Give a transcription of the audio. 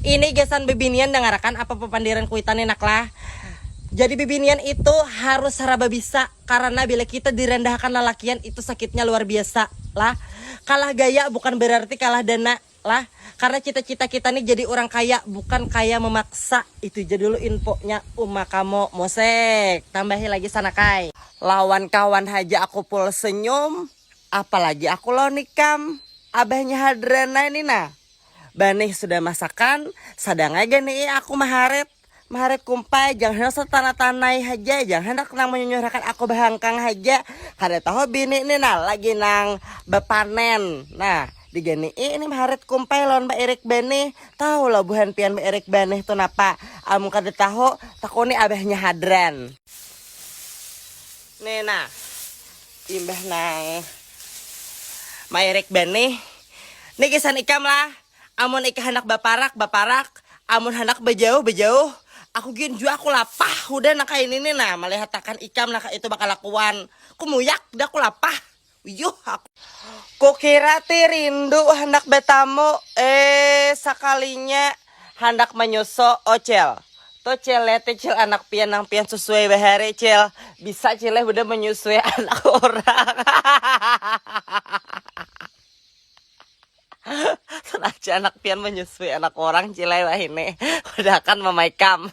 Ini gasan bibinian dangarakan apa papandiran kuitan ni nak lah. Jadi bibinian itu harus saraba bisa karana bila kita dirandahakan lalakian itu sakitnya luar biasa lah. Kalah gaya bukan berarti kalah dana lah. Karena cita-cita kita ni jadi urang kaya bukan kaya memaksa. Itu ja dulu infonya uma kamu Mosek. Tambahi lagi Sanakai. Lawan kawan haja aku full senyum, apalagi aku lawan ikam, abahnya Hadrana ni nah. Banih sudah masakan, sadang ai ganii aku maharit. Maharit kumpai, jangan handak satana-tanai haja, jangan handak nang manyunyurakan aku bahangkang haja. Kada tahu bini ni nah lagi nang bapanen. Nah, diganii ini maharit kumpai lawan bairik banih. Tahu lo buhan pian bairik banih tu napa? Amun kada tahu, takuni abahnya hadran. Ni nah, Imbah nang maerek banih, ni gasan ikam lah, amun ikam handak baparak, baparak, amun handak bajauh, bajauh, aku gin jua aku lapah hudah nang kaini ni nah, malihatakan ikam nah kaitu bakalakuan, kumuyak dah aku lapah, uyuh aku. Kukira ti rindu handak batamu, eh sakalinya. Handak manyusu oh cil. Tuh cil lihat tuh cil anak pian nang pian susui bahari cil. Bisa cil leh budak manyusui anak urang. Sengaja anak pian manyusui anak urang cil leh wahini. Udah akan mamaikam.